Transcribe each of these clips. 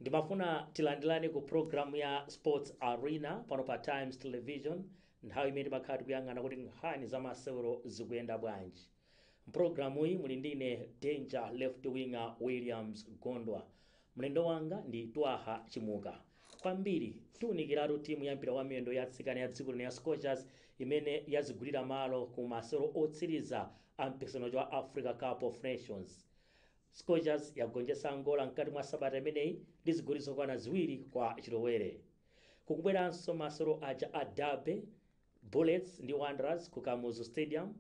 ndimafuna tilandilani ku programu ya sports arena pano pa times television nthawi imene timakhala tikuyang'ana kuti nkhani za masewero zikuyenda bwanji Mpulogalamuyi muli ndine Danger Left Winger Williams Gondwa. Mlendo wanga ndi Twaha Chimuka. Kwambiri tiunikiratu timu ya mpira wa miyendo ya atsikana ya dziko lino ya Scorchers imene yazigulira malo ku masewero otsiriza a mpikisano wa Africa Cup of Nations. Scorchers yagonjetsa Angola mkati mwa sabata imeneyi ndi zigoli zokwana ziwiri kwa chilowere. Kukubweranso masewero aja a Derby, Bullets ndi Wanderers ku Kamuzu Stadium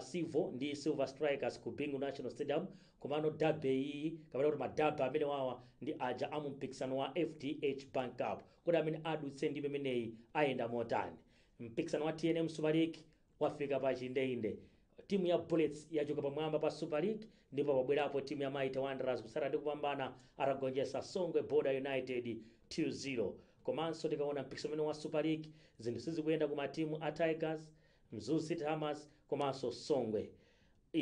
Civo ndi Silver Strikers ku Bingu National Stadium komano derby iyiyi kapena kuti ma derby amene wawa ndi aja a mu mpikisano wa FDH Bank Cup kodi amene adutse ndime imeneyi ayenda motani mpikisano wa tnm Super League wafika pa chindeinde timu ya Bullets yachoka pamwamba pa Super League ndipo pabwerapo timu ya Mighty Wanderers kutsatira ndi kupambana atagonjetsa Songwe Border United 2-0 komanso tikaona mpikisano umene wa Super League zinthu sizikuyenda ku matimu a Tigers Mzuzu City Hammers komanso Songwe.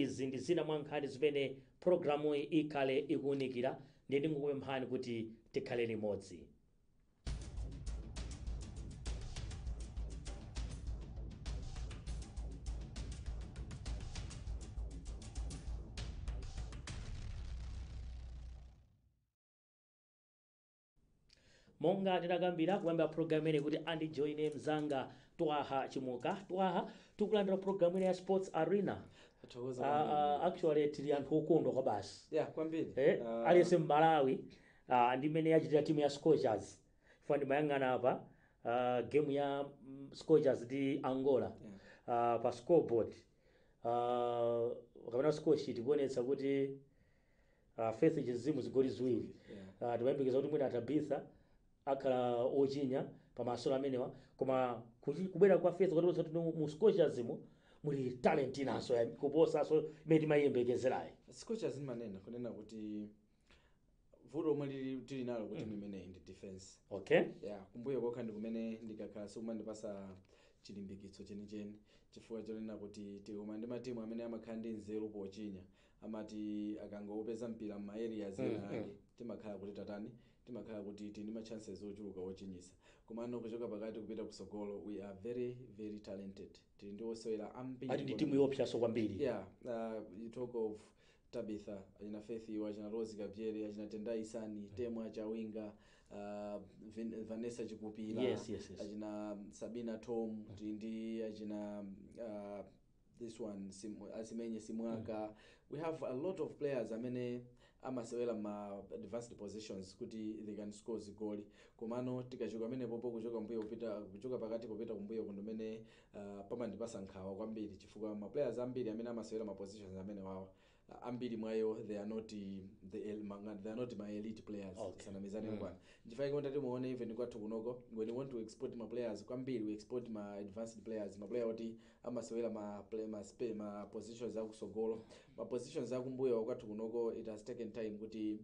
Izi ndi zina mwa nkhani zimene pulogalamuyi ikhale ikuunikira ndiye ndingokupemphani kuti tikhale limodzi. monga tinakambira kuyamba program ine kuti andijoine mzanga twaha chimuka twaha takulandira program imene ya sports arena Tathokoza Ah, kwambiri. ah, actually tili anthu okondwa kwabasi Yeah, kwambiri. eh, Ah, aliyense mmalawi ah, ndi mmene yachitira timu ya scorchers chifukwa ndimayang'ana apa ah, game ya mm, scorchers ndi angola ah, pa scoreboard ah, kapena scoresheet kuonetsa kuti Uh, Faith Chinzimu zigoli ziwiri uh, timayembekeza kuti mwina Tabitha akhala ochinya pa masewero amenewa koma kuchi- kubwera kwa Faith kwationetsa kuti mu Scorchers mu muli talent inanso ya- kuposanso imene timayiyembekezerayi scorchers ndimanena kunena kuti vuto lomwe lili- tili nalo ku timu imeneyi ndi defense okay yeah, kumbuyo kokha ndi kumene ndikakhala sikumandipasa chilimbikitso chenicheni chifukwa chonena kuti tikakumana ndi matimu amene amakhala ndi nzeru pochinya amati akangopeza mpira mma areas Mm, mm. ena ake timakhala kuti tatani timakhala kuti tili ndi ma chances ochuluka ochinyisa komano kuchoka pakati kupita kusogolo we are very very talented tili ndi osewera ambiri ati ndi timu kwambiri. yopsaso kwambiri yeah uh, you talk of tabitha achina faith awa achina rose kabzere achina tendai sani temwa chawinga uh, Vin- vanessa chikupila Yes, yes, yes. achina sabina thom tili ndi achina uh, this one sim, asimenye simwaka we have a lot of players amene amasewera ma advanced positions kuti they can score zigoli komano tikachoka pamenepopo kuchoka mbuyo kupita kuchoka pakati kupita kumbuyo ku ndi komwe uh, pamandipasa nkhawa kwambiri chifukwa ma players ambiri amene amasewera ma positions amene wawa Ah, ambiri mwa iwo they are not eh, the el- ma- ngati they are not ma elite players Okay. tisanamizane Mm. bwana nchifukwa mutati muone even kwathu kunoko when we want to export ma players kwambiri we export ma advanced players ma player oti amasewera ma play ma spe ma positions akusogolo ma positions akumbuyo kwathu kunoko it has taken time kuti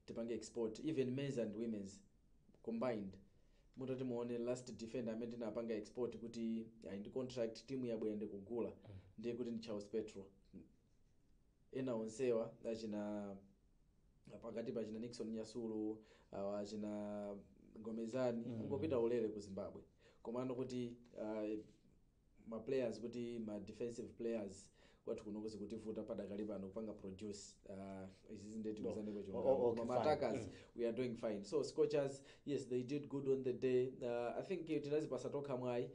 tipange export even men's and women's combined mutati muone last defender amene tinapanga export kuti ali ndi contract timu yabwera ndikugula ndiye kuti ndi charles petro ena onsewa achina pakati pa achina nixon nyasulu awa achina gomezgani mm. angopita ulere ku zimbabwe komano kuti uh, ma players kuti ma defensive players kwathu kunoko zikutivuta padakali pano kupanga produce uh, izi ndi zoti No. tiuzaneko O- o- chilungamo okay, koma fine. ma attackers we are doing fine so scorchers yes they did good on the day uh, i think eh, tinazipasa tokha mwayi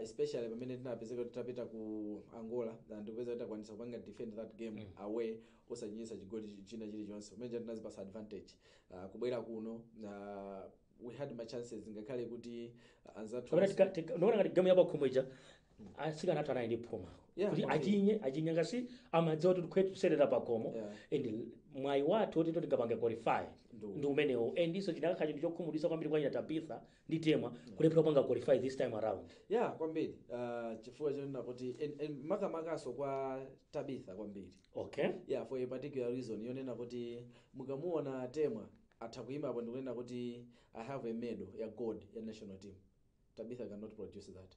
especially pamene tinapezeka titapita ku angola and ndikupeza kuti takwanisa kupanga defend that game away osachinyitsa chigoli chi- china chilichonse pamene tinazipasa advantage uh, kubwera kuno uh, we had ma chances ngakhale kuti uh, anzathu kapena onse- tika- tika- ndikuona ngati gamu yapakhomo ija asikana athu anali ndi phuma Yeah, kuti kwambiri. achinye achinye cause amadziwa kuti tikusewera pakhomo Yeah. and mwayi wathu oti to tingapange qualify Ndu. ndi umenewo and iso chikanakhala chinthu chokhumudwisa kwambiri kwa achina tabitha ndi temwa kulephera kupanga qualify this time around ya kwambiri uh, chifukwa chonena kuti en- en- makamakaso kwa tabitha kwambiri okay yeah for a particular reason yonena kuti mukamuona temwa atha kuima apo ndikunena kuti i have a medal ya gold ya national team tabitha cannot produce that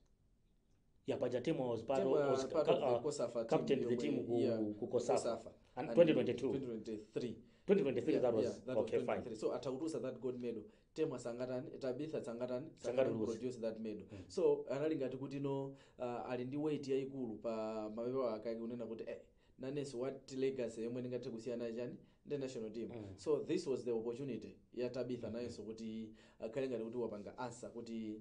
ya paja temwa was part Team, of uh, was part of the uh, Cosafa team captain the yomwe- team ku, yeah, ku Cosafa Cosafa. and And 2022 2023 2023 Yeah, that was yeah, that was okay fine 2023. so atha kutulusa that gold medal temwa sangatani tabitha sangatani Sangatani was- produce that medal so anali ngati kuti no uh, ali ndi weight yayikulu pa mapewa ake akunena kuti eh, nanenso what legacy yomwe ndingathe kusiyana nayo chani ndi national team so this was the opportunity ya tabitha nayenso kuti akhale ngati kuti wapanga answer kuti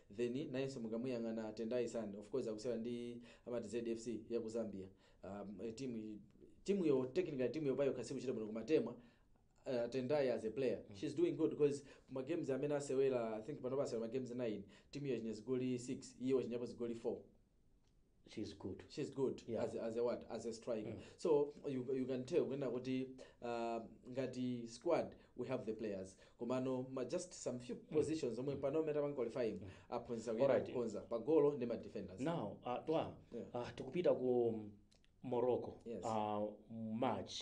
then nayenso mukamuyang'ana Tendai Sani of course akusewera ndi amati ZFC ya ku Zambia um, team team yo technically team yo payokha sikuchita bwino koma Temwa uh, Tendai as a player mm. she's doing good because ma games amene asewera I think panopa asewera ma games 9 team yo yachinya zigoli 6 iye wachinyapo zigoli 4 she's good she's good Yeah. as, as a what as a striker so you, you can tell kunena kuti uh, ngati squad we have the players komano ma just some few positions omwe pano omwe tapanga qualifying aphunzitsa kuyera Alright. kukonza pa golo ndi ma defenders now uh, twa Yeah. uh, tikupita ku morocco Yes. uh, march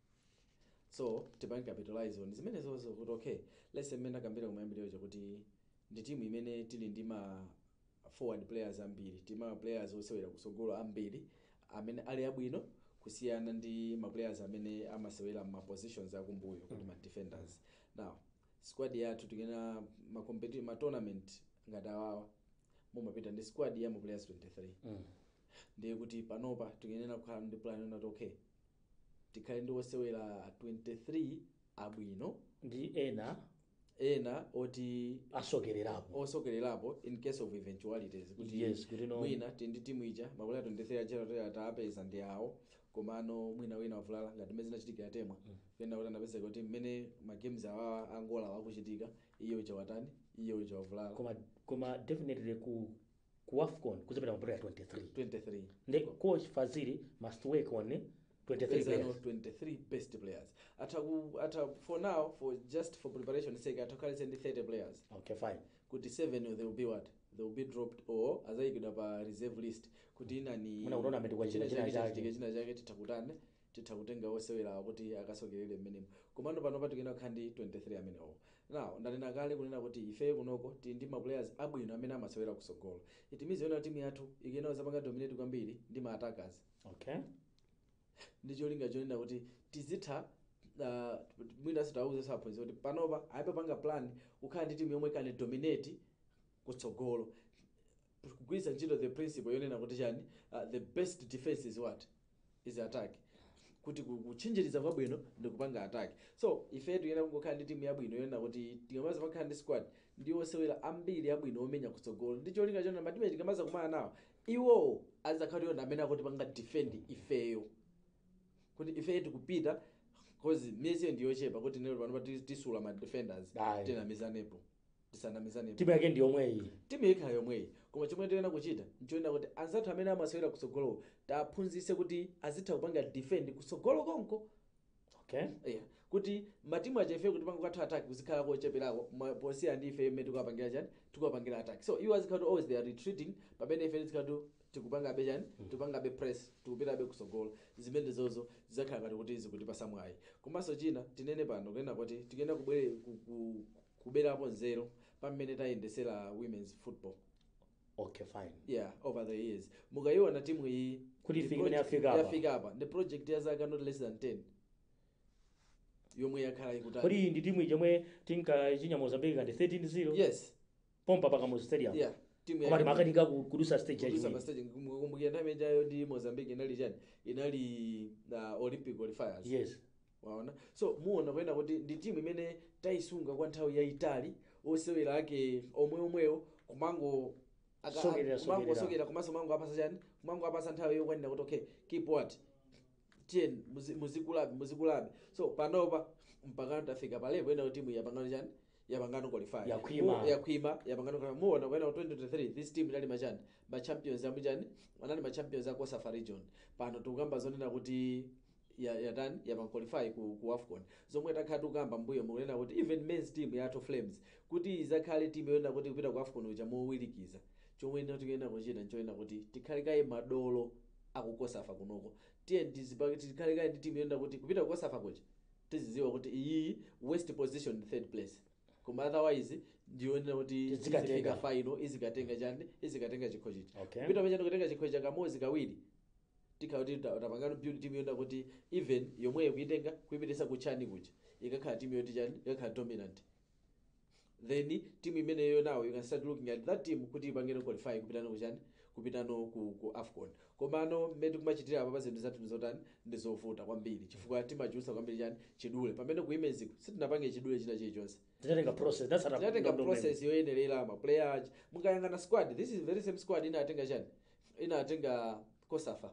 so tipange capitalize on zimenezozo kuti okay let's say mmene akambira kumayambiriro kuja kuti ndi timu imene tili ndi ma forward players ambiri ndi ma players osewera kusogolo ambiri amene ali abwino kusiyana ndi ma players amene amasewera ma positions akumbuyo kuti ma defenders now squad yathu tikunena ma, competi- ma tournament ngati awawa mumapita ndi squad ya ma players 23 ndiye kuti panopa tikuyenera kukhala ndi plan yonena kuti okay tikhale ndi osewera 23 abwino ndi ena ena oti asokererapo osokererapo in case of eventualities kuti Yes, kuti no- mwina mtundu wa timu ija mabwera 23 achera toyera tapeza ndi awo komano mwina wina wavulala ngati mmene zinachitikira Temwa kunena kuti anapezeka kuti mmene ma games awawa a Angola wa akuchitika iye uja watani iye uja wavulala koma koma definitely ku ku WAFCON kuzapita ma player 23 23 nde coach Fazili must work on 23 Pezano players 23 best players atha ku atha for now for just for preparation sake atha kukhalanso ndi 30 players okay fine kuti 7 they will be what they will be dropped or azayikidwa pa reserve list kuti nanga mwina kutournament kwa china- china china chake. chake china chake titakutane titha kutenga osewerawa kuti akasokerere mmenemo komano panopa tikuyenera kukhala ndi 23 amenewowo now ndanena kale kunena kuti ifeyo kunoko tili ndi ma players abwino amene amasewera kusogolo it means yonena timu yathu ikuyenera kuzapanga dominate kwambiri ndi ma attackers okay ndi cholinga chonena kuti tizitha uh, mwinanso tiwauze aphunzitsi kuti panopa ayambe kupanga plan kukhala ndi timu yomwe ikupanga dominate kutsogolo kugwiritsa ntchito the principle yonena kuti chani uh, the best defense is what is attack kuti ku- kutchinjiriza kwabwino ndi kupanga attack so ife tiyenera kungokhala ndi timu yabwino yonena kuti tikamaza pakhala ndi squad ndi osewera ambiri abwino omenya kutsogolo ndi cholinga chonena matimu tikamaza kumana nawo iwowo azakhala iwo amene akutipanga defend ifeyo kuti ife tikupita cause miyezi ndiyochepa kuti tinene pano pati- tisula ma defenders Aye. tinamizanepo tisanamizane timu yake ndi yomweyi timu ikhala yomweyi koma chomwe tiyenera kuchita nchonena kuti anzathu amene amasewera kutsogolowo tiwaphunzitse kuti azitha kupanga defend kutsogolo konko okay yeah. kuti matimu aja ife kutipanga counter attack kuzikhala kocheperako ma- kusiyana ndi ife mmene tikuwapangira chani tikuwapangira attack so iwo azikhala kuti always they are retreating pamene ife tizikhala kuti tikupangabe chani tikupangabe press tikupitabe kutsogolo zimene zozo zizakhala ngati kuti zikutipasa mwayi komanso china tinene pano kunena kuti tikuyenera kubwere ku- ku- kuberapo nzeru pa mmene tayendesera women's football okay fine yeah over the years mukayiona timu iyi Kuti ndi ifike imene project- yafika apa. yafika apa ndi project ya zaka not less than 10 yomwe yakhala ikutali kodi ndi timu yomwe tinkachinya mozambique kati 13-0 yes pompa pa Kamuzu stadium yeah timu koma yake- timakanika ku- kudutsa stage Kudutsa yachiwiri mastage kumbukira nthawi imeneyo ndi mozambique inali chani inali uh, olympic qualifiers yes waona so muona kunena kuti ndi timu imene tayisunga kwa nthawi yayitali osewera ake omwe omwewo kumango aka- Sokerera, sokerera. kumangosokera komanso mango apasa chani kumango apasa nthawi yokwanira kuti okay keep watani muzi- muzikulabe muzikulabe so panopa mpakano tafika pa level ina timu yapangano chani yapangano qualify Yakhwima. Mu- yakhwima yapangano qualify muona kunena 2023 this team inali machani ma champions amu chani anali ma champions a Cosafa region pano tikukamba zonena kuti ya yatani yapanga qualify ku, ku afcon zomwe takhala tikukamba mbuyomu kunena kuti even men's team yathu flames kuti izakhale team yoyenera kuti kupita ku afcon uja mowirikiza chomwe ino tikuyenera kuchita nchoyenera kuti tikhale kaye madolo a ku Cosafa kunoko tiye tizipa- tikhale kaye ndi team yoyenera kuti kupita ku Cosafa kuja tiziziwa kuti iyiyi worst position ndi third place koma otherwise ndiyonena kuti Tidzikatenga. izifika final izikatenga chani izikatenga chikho chicha Okay. kupita pachani kutenga chikho cha kamodzi kawiri tikhala kuti ta- tapangano build team yonena kuti even yomweyo kuitenga kuipitisa kuchani kuja ikakhala team yoti chani ikakhala dominant then team imeneyo nawo you can start looking at that team kuti ipangene qualify kupitano kuchani kupitano ku, ku afcon komano mmene tikumachitira apa pa zinthu zathu ndizotani ndizovuta kwambiri chifukwa timachulutsa kwambiri chani chidule pamene ku women's-ko sitinapange chidule china chilichonse tinatenga process tinatsata tinatenga ndondomeko. process yoyenerera maplayer aja mukayang'ana squad this is very same squad inatenga chani inatenga Cosafa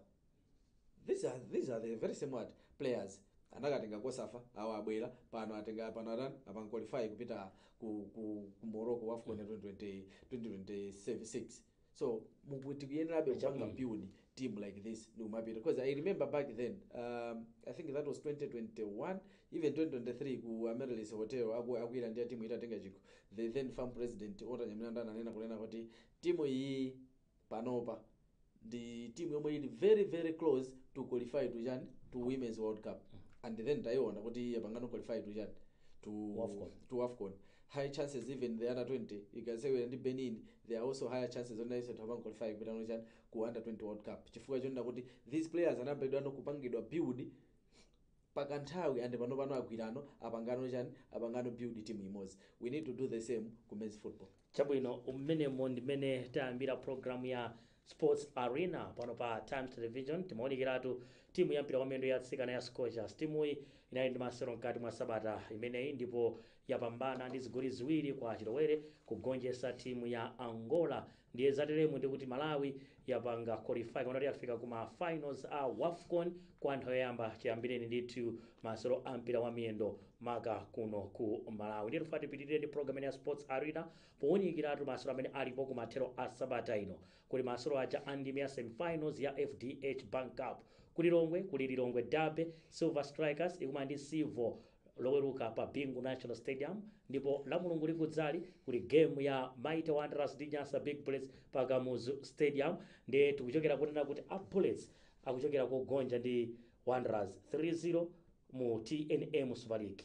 these are, these are the very same what players anakatenga Cosafa awo abwera pano atenga pano atani apanga qualify kupita ku, ku, ku morocco wafcon 2020 2026 so muku- tikuyenerabe kupanga Chabwino. build team like this ndikumapita because i remember back then um, i think that was 2021 even 2023 ku amaryllis hotel aku- akuyira ndi timu itatenga chikho the then FAM president Walter Nyamilandu ananena kunena kuti timu iyi panopa ndi timu yomwe ili very very close to qualify to chani to women's world cup and then tayiona kuti yapangano qualify to chani to AFCON. to afcon high chances even the under 20 ikasewera ndi benin there are also higher chances zoti nayenso itha panga qualify kupitano kuchani ku under 20 world cup chifukwa chonena kuti these players anayambidwano kupangidwa build pakanthawi and pano pano agwirano apangano chani apangano build team imodzi we need to do the same ku men's football chabwino mmenemo ndimene tayambira programu ya Sports Arena pano pa Times Television timaunikiratu timu ya mpira wa miyendo ya atsikana ya Scorchers. Timuyi inali ndi masewero mkati mwa sabata imeneyi ndipo yapambana ndi zigoli ziwiri kwa chilowere kugonjetsa timu ya Angola. Ndiye zateremu ndi kuti Malawi yapanga qualify kuti yafika ku ma finals a WAFCON kwa nthawi yoyamba chiyambireni ndithu masewero a mpira wa miyendo maka kuno ku Malawi. Ndiye tufuna tipitirire ndi program ya Sports Arena Powunikiratu masewero amene alipo kumathero a sabata ino, kuli masewero aja a ndime ya semifinals ya fdh Bank Cup. Ku Lilongwe kuli Lilongwe Derby, Silver Strikers ikumana ndi Civo Loweruka pa Bingu National Stadium ndipo Lamulungu likudzali kuli game ya Mighty Wanderers ndi Nyasa Big Bullets pa Kamuzu Stadium ndiye tikuchokera kunena kuti a Bullets akuchokera kogonja ndi Wanderers 3-0 mu tnm Super League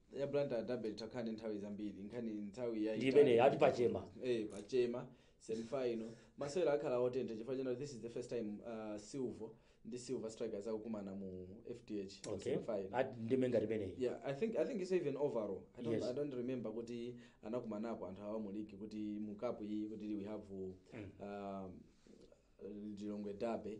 ya blantyre derby takhala ndi nthawi zambiri nkhani nthawi ya Ndi imeneyo, ati pachema. eh pachema semifinal masewera akhala otentha chifukwa chonena this is the first time uh, civo ndi silver strikers akukumana mu fdh mu okay semifinal. Ati ndime ngati imeneyi yeah i think i think it's even overall i don't, Yes. I don't remember kuti anakumanapo anthu awa mu league kuti mu cup iyi kuti we have uh, um, lilongwe derby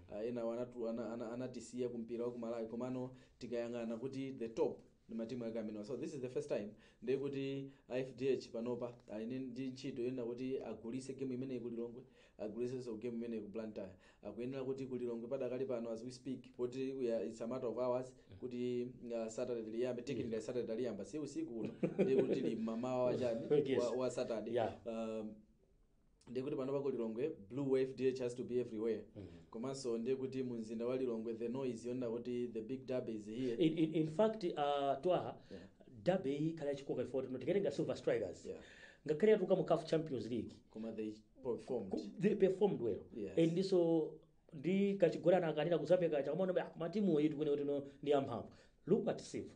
uh, enawo anatu- ana- ana- anatisiya ku mpira wa ku malawi komano tikayang'ana kuti the top ndi matimu ake amenewa so this is the first time ndiye kuti a fdh panopa ali ndi- ndi ntchito yonena kuti agulise game imeneyi ku lilongwe agulisenso game imeneyi ku blantyre akuyenera kuti ku lilongwe padakali pano as we speak poti we are- it's a matter of hours kuti uh, saturday liyambe technically saturday taliyamba si usiku uno ndiye kuti li mamawa wachani Yes. wa, wa saturday Yeah. um, ndiye kuti panopa ku lilongwe blue wa fdh has to be everywhere komanso ndiye kuti mu mzinda wa lilongwe the noise yonena kuti the big derby is here in, in, in fact uh, twaha Yeah. derby iyi ikhala yachikoka ifoti no tikatenga silver strikers Yeah. ngakhale yatuluka mu caf champions league koma they performed they performed well Yes. and ndiso ndi kachigolana akanira kuzapeka chakamona ah, matimu iyi tikunena kuti no ndi amphamvu look at silver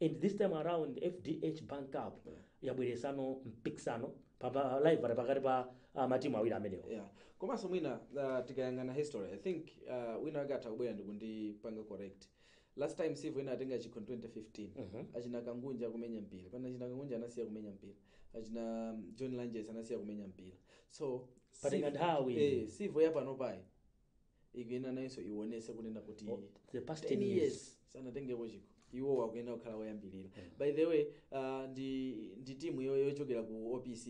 and this time around fdh bank cup yabweretsanso mpikisano pa- pa rivalry pakati pa ah, matimu awiri amenewo yeah komanso mwina uh, tikayang'ana history i think uh, wina wake atha kubwera ndikundipanga correct last time civo inatenga chikho 2015 Mhm. achina kangunje akumenya mpira pano achina kangunje anasiya kumenya mpira achina um, john lanjesi anasiya kumenya mpira so Patenga Civo- nthawi. eh, civo yapanopayi ikuyenera nayonso iwonetse kunena kuti Oh, the past 10 10 years. years sanatengepo chikho iwowo akuyenera kukhala woyambirira by the way uh, ndi, ndi timu yo- yochokera ku opc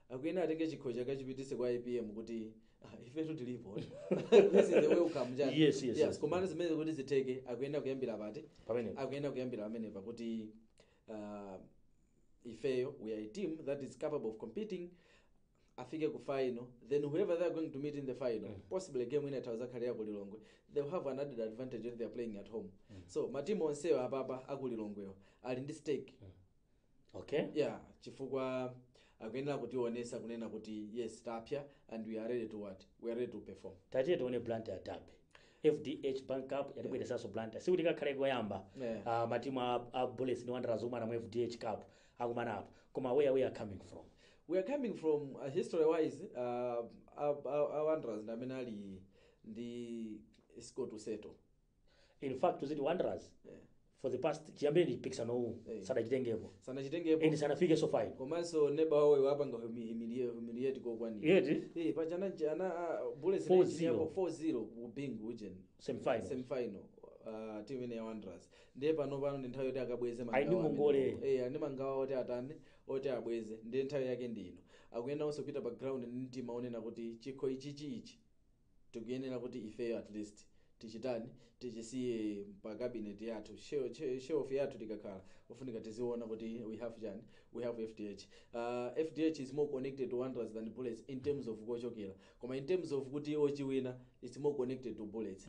akuyenera atenge chikhocho akachipititse kwa apm kuti ah, ifetu tilipo this is the welcome chani. Yes, yes, yes. komano zimene kuti zitheke akuyenera kuyambira pati Pamenepo. akuyenera kuyambira pamenepa kuti uh, ifeyo we are a team that is capable of competing afike ku final then whoever they are going to meet in the final mm. possibly game ina itha kuzakhalira kulilongwe they will have an added advantage when they are playing at home mm. so matimu onsewo apapa akulilongwewo ali ndi stake mm. okay yeah chifukwa akuyenera kutionesa kunena kuti yes tapya and we are ready to what we are ready to perform tatiye tione blantyre derby fdh bank cup yatibweresanso blantyre sikuti kakhale koyamba Yeah. Ah, matimu a, a bullets ndi wanderers kukumana mu fdh cup akumana apo koma where we are coming from we are coming from uh, history wise uh, uh, uh, wanderers ndi amene ali ndi score to settle in fact tiziti wanderers yeah. for the past chiyambireni mpikisano uwu Eh. sadachitengepo and sanachitengepo sanafikeso final komanso neba wawo wapanga humiliate kokwanira yeti Eh, paja ana ana ah, bullets 4-0. inachinyapo 4-0 ku bingu ujeni semifinal semifinal uh, team ine ya wanderers ndiye panopano ndi nthawi yoti akabweze Ali ndi mangawa ngongole. amenewo. Eh, ali ndi mangawa oti atani oti abweze ndiye nthawi yake ndi ino akuyenera onse kupita pa ground ndi mtima onena kuti chikho ichichi ichi tikuyenera kuti ifeyo at least tichitani tichisiye pa cabinet yathu Shel- she- shelf yathu tikakhala ofunika tiziona kuti we have chani we have fdh uh, fdh is more connected to wanderers than bullets in terms of kochokera koma in terms of kuti ochiwina it's more connected to bullets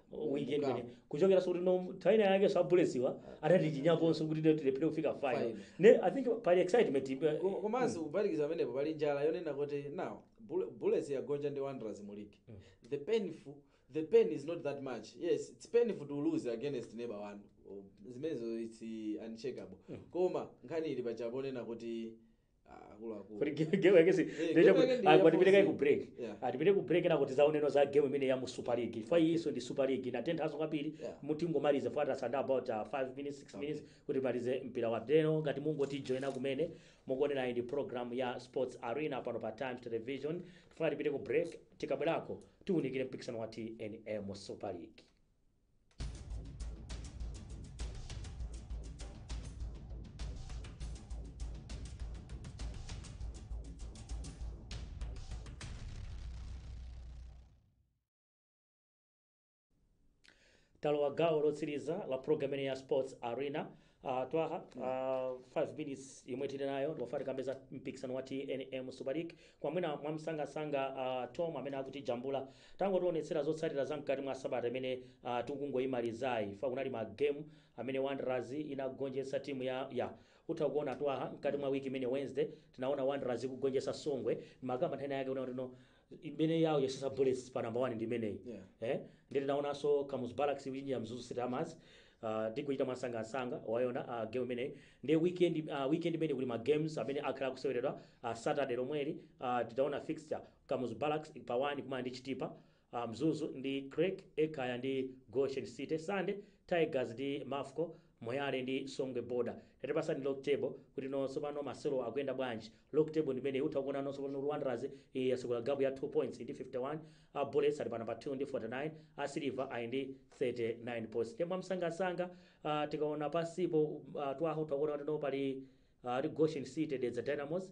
weekend Kukamu. imene kuchokeraso kuti nthawi ina yakeso a bullets wa anatichinyakonso kuti tilephere kufika final Final. ne i think pali excitement eh, Ko- komanso kuphatikiza pamenepo pali njala yonena kuti now Bull- bullets yagonja ndi wanderers mu league the painful the pain is not that much yes it's painful to lose against neighbor one Oh, zimenezo it's uncheckable koma nkhani ili pachapo onena kuti Ah, akuluakulu. kuti game- game yake si Eh, ndio game chaku- yake ndi ah, ya kuti tipite kaye ku 14. break Yeah. tipite ku break nako tizaoneno za game imene ya mu super league fwa iyiso ndi super league inatenthanso kwambiri Yeah. kuti tingomalize fwa tasala ndi about 5 minutes 6 minutes kuti timalize mpira wa deno ngati mungotijoina kumene mukuonerayi ndi program ya sports arena pano pa times television tifuna tipite ku break tikabwerako tiunikire mpikisano wa tnm super league talowa gawo lotsiriza la programu ya sports arena Uh, twaha uh, 5 minutes yomwe tili nayo ndikufuna tikambe za mpikisano wa tnm super league koma mwina mwamsangasanga uh, tom amene akutijambula tangotionetsera zotsatira za mkati mwa sabata imene uh, tikungoyimalizayi fwa kunali ma game amene wanderers inagonjetsa timu ya ya utha kuona twaha mkati mwa wiki imene wednesday tinaona wanderers ikugonjetsa songwe makamba nthani yake unaotino imene yawo yasisa bullets pa number 1 ndi imeneyi Yeah. eh nde tinaonanso kamuzu barracks kuchinya mzuzu city hammers Uh, ndikuchita mwasangasanga wayona uh, game imeneyi ndi weekend uh, weekend imene kuli ma games amene akhala akuseweredwa uh, saturday lomweli uh, titaona fixture kamuzu barracks pa 1 kumana ndi chitipa uh, mzuzu ndi creck ekaya ndi goshen city sunday tigers ndi mafco Moyale ndi songwe border. Tatipasani log table kuti nonse pano masewero akuyenda bwanji. Log table ndimeneyi utha kuona nonse pano kuti Wanderers yasegula gap ya 2 points ndi 51, a Bullets ali pa number 2 ndi 49, a Silver ali ndi 39 points. Nde mwamsangansanga tikaona pansipo tawo mutha kuona kuti no pali Goshen City, Dedza Dynamos,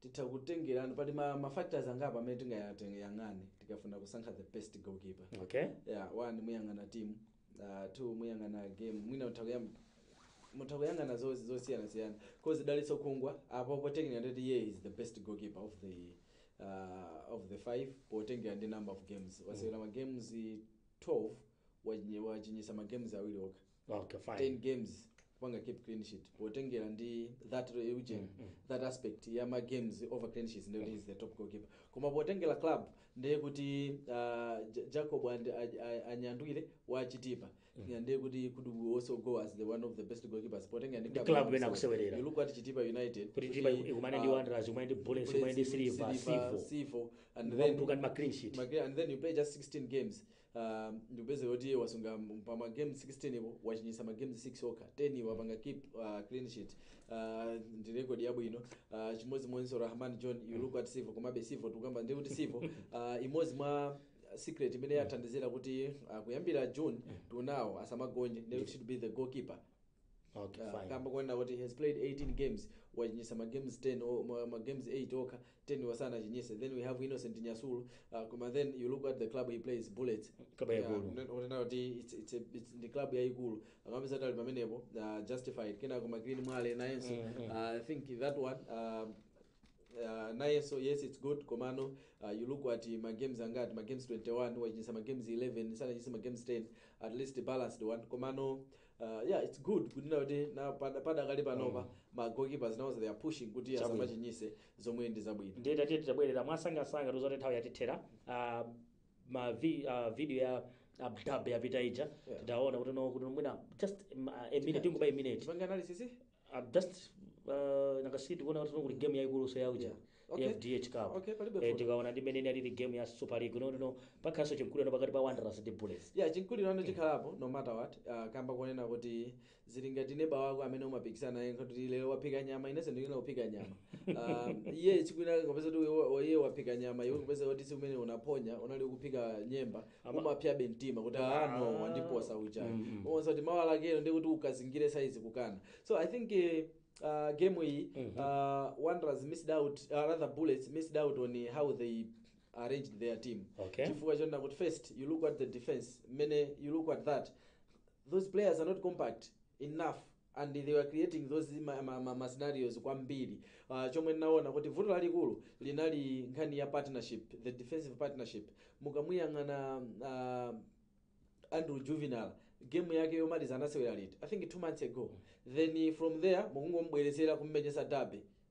titatengera pali ma, ma factors angapo amene tingayang'ane tikafuna kusankha the best goalkeeper okay yeah, one muyang'ana team uh, two muyang'ana game mwina mutha kuyam- mutha kuyang'ana zo- zosiyanasiyana cause dalitso khungwa apo technically nditi he is the best goalkeeper of the uh, of the five potengera ndi number of games wasewera ma games 12 wachinye- wachinyisa ma games awiri okha okay fine 10 games kupanga keep clean sheet potengera ndi that region that aspect ya ma games over clean sheets ndiye is the top goalkeeper koma potengera club ndiye kuti uh, Ja- jacob and- a- a- anyandwile wa chitipa ndiye kuti could also go as the one of the best goalkeepers potengera ndi Ndi club imene akusewerera. you look at chitipa united kuti chitipa ikumane ndi uh, wanderers ikumane ndi bullets ikumane ndi silver civo Civo, and then mukhale ndi ma clean sheet Magre- and then you play just 16 games ndi kupezeka kuti wasunga pa ma game 16 po wachinyitsa ma games 6 okha 10 wapanga keep uh, clean sheet uh, ndi record yabwino uh, chimodzimodzinso rahman john you look at civo komabe civo tikukamba ndi kuti civo uh, imodzi mwa secret imene yathandizira kuti uh, kuyambira june to now asamagonje ndiye kuti should be the goalkeeper Okay, Ah, fine. kamba konena kuti he has played 18 games wachinyisa ma games 10 o- ma- ma games 8 okha 10 wasanachinyise then we have innocent nyasulu uh, koma then you look at the club he plays bullets Club yaikulu. kunena kuti it's, it's, a, it's ndi club yaikulu amapeza tali pamenepo uh, justified kenako green mwale nayenso uh, i think that one uh, Uh, nayenso yes its good komano uh, you look at ma games angati ma games 21 wachinyisa ma games 11 sanachinyisa ma games 10 at least balanced one komano uh, yeah its good kunena kuti na pada- padakali panopa mm. ma goalkeepers nawo they are pushing kuti Chabwino. asamachinyise zomwe ndi zabwino ndiye tatiyeni titabwerera mwamsangamsanga tikudziwa kuti nthawi yatithera ah, ma vi, ah, video ya ah, dab yapita ija Yeah. tidaona kuti no kuti mwina just mm, ah, a minute tingoba a minute tipange analysis eh? I'm just uh, nakasiti kuona kuti kuli game yaikulunso ya uja Yeah. Okay. FDH Cup Okay, palibe eh, vuto. tikaona ndi mmene inalili game ya Super League no no no pakhalanso chinkulirano pakati pa Wanderers ndi Bullets ya chinkulirano chikhalapo no matter what uh, kamba konena kuti zili ngati neba wako amene umapikisana naye kuti lero waphika nyama inenso ndikufuna kuphika nyama um, iye chikwina kapeza kuti iwe- iye waphika nyama iwe kupeza kuti tsiku limene unaphonya unali unali kuphika nyemba Ama- umapyabe mtima kuti Ah. no wandiposa uchayi Mm, mm. onse kuti mawa lakero ndi kuti ukazingire saizi kukana so i think eh, uh, game iyi Mhm. uh, wanderers missed out uh, rather bullets missed out on eh, how they arranged their team Okay. chifukwa chonena kuti first you look at the defense mmene you look at that those players are not compact enough and they were creating those ma, ma, ma, ma scenarios kwambiri uh, chomwe ndinaona kuti vuto lalikulu linali nkhani ya partnership the defensive partnership mukamuyang'ana uh, andrew juvenal game yake yomaliza anasewera liti i think two months ago then from there mukungomubweretsera kummenyesa derby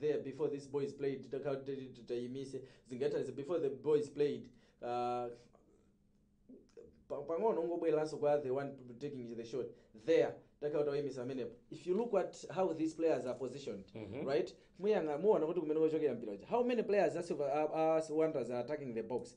there before this boys played takati tayimise zingathandize before the boys played uh, pa- pang'ono ungobwereranso kwa the one taking the shot there takhala tawayimisa amenepo if you look at how these players are positioned Mhm. right muyanga muona kuti kumene kochokera mpira uja how many players a silver a, a wanderers are attacking the box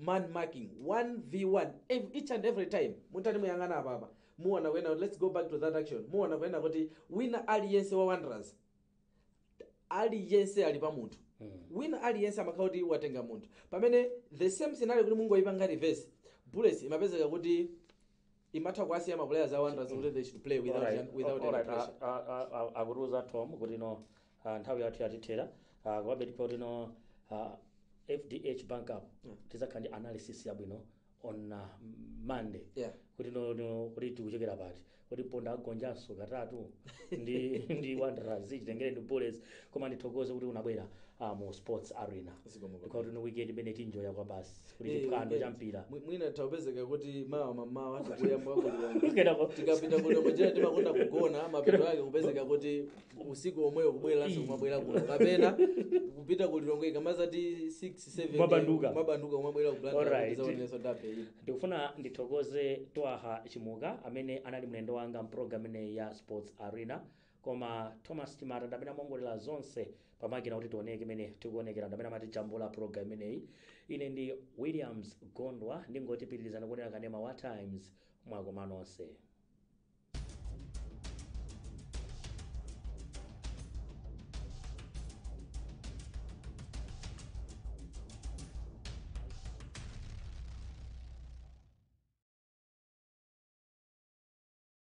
man marking 1v1 ev each and every time mutati muyang'ane apapa muona kunena kuti let's go back to that action muona kunena kuti wina aliyense wa wanderers aliyense ali pa munthu wina aliyense amakhala kuti watenga munthu pamene the same scenario kuti mungoyipanga reverse bullets imapezeka kuti imatha kuwasiya ma players a wanderers kuti they should play without, Alright, Jan- without alright, any pressure a- a- a- a- akutiuza tom kuti no ah, nthawi yathu yatithera Ah, komabe ndipo kuti no ah, fdh bank cup tizakhala ndi analysis yabwino on ah, monday Yeah. kuti no- no, kuti tikuchekera pati kuti mponda agonjanso katatu ndi ndi wanderers chitengere ndi bullets koma ndithokoze kuti unabwera ah, mu sports arena Zikomo kwambiri. because no weekend imene tinjoya kwabasi kuli Eh, chiphwando eh, cha mpira mwi- mwina tawapezeka kuti mawa mamawa tikuyamba ku Lilongwe Kenako- tikapita ku Lilongwe ujera timakonda kugona mapeto ake kupezeka kuti usiku omweyo kubwereranso kumabwera kuno kapena kupita ku Lilongwe ikamazati 6 7 Mabanduka. mabanduka kumabwera Alright. ku Blantyre kudzaonanso derby iyi ndikufuna ndithokoze twaha Chimuka amene anali mlendo wanga mpulogalamu imeneyi ya sports arena koma Thomas Chimata ndamene amawongolera zonse pamakina kuti tioneke mmene tikuonekera ndamene amatijambula program imeneyi ine ndi Williams Gondwa ndingoti pitirizani kuonera kanema wa Times mwakoma nonse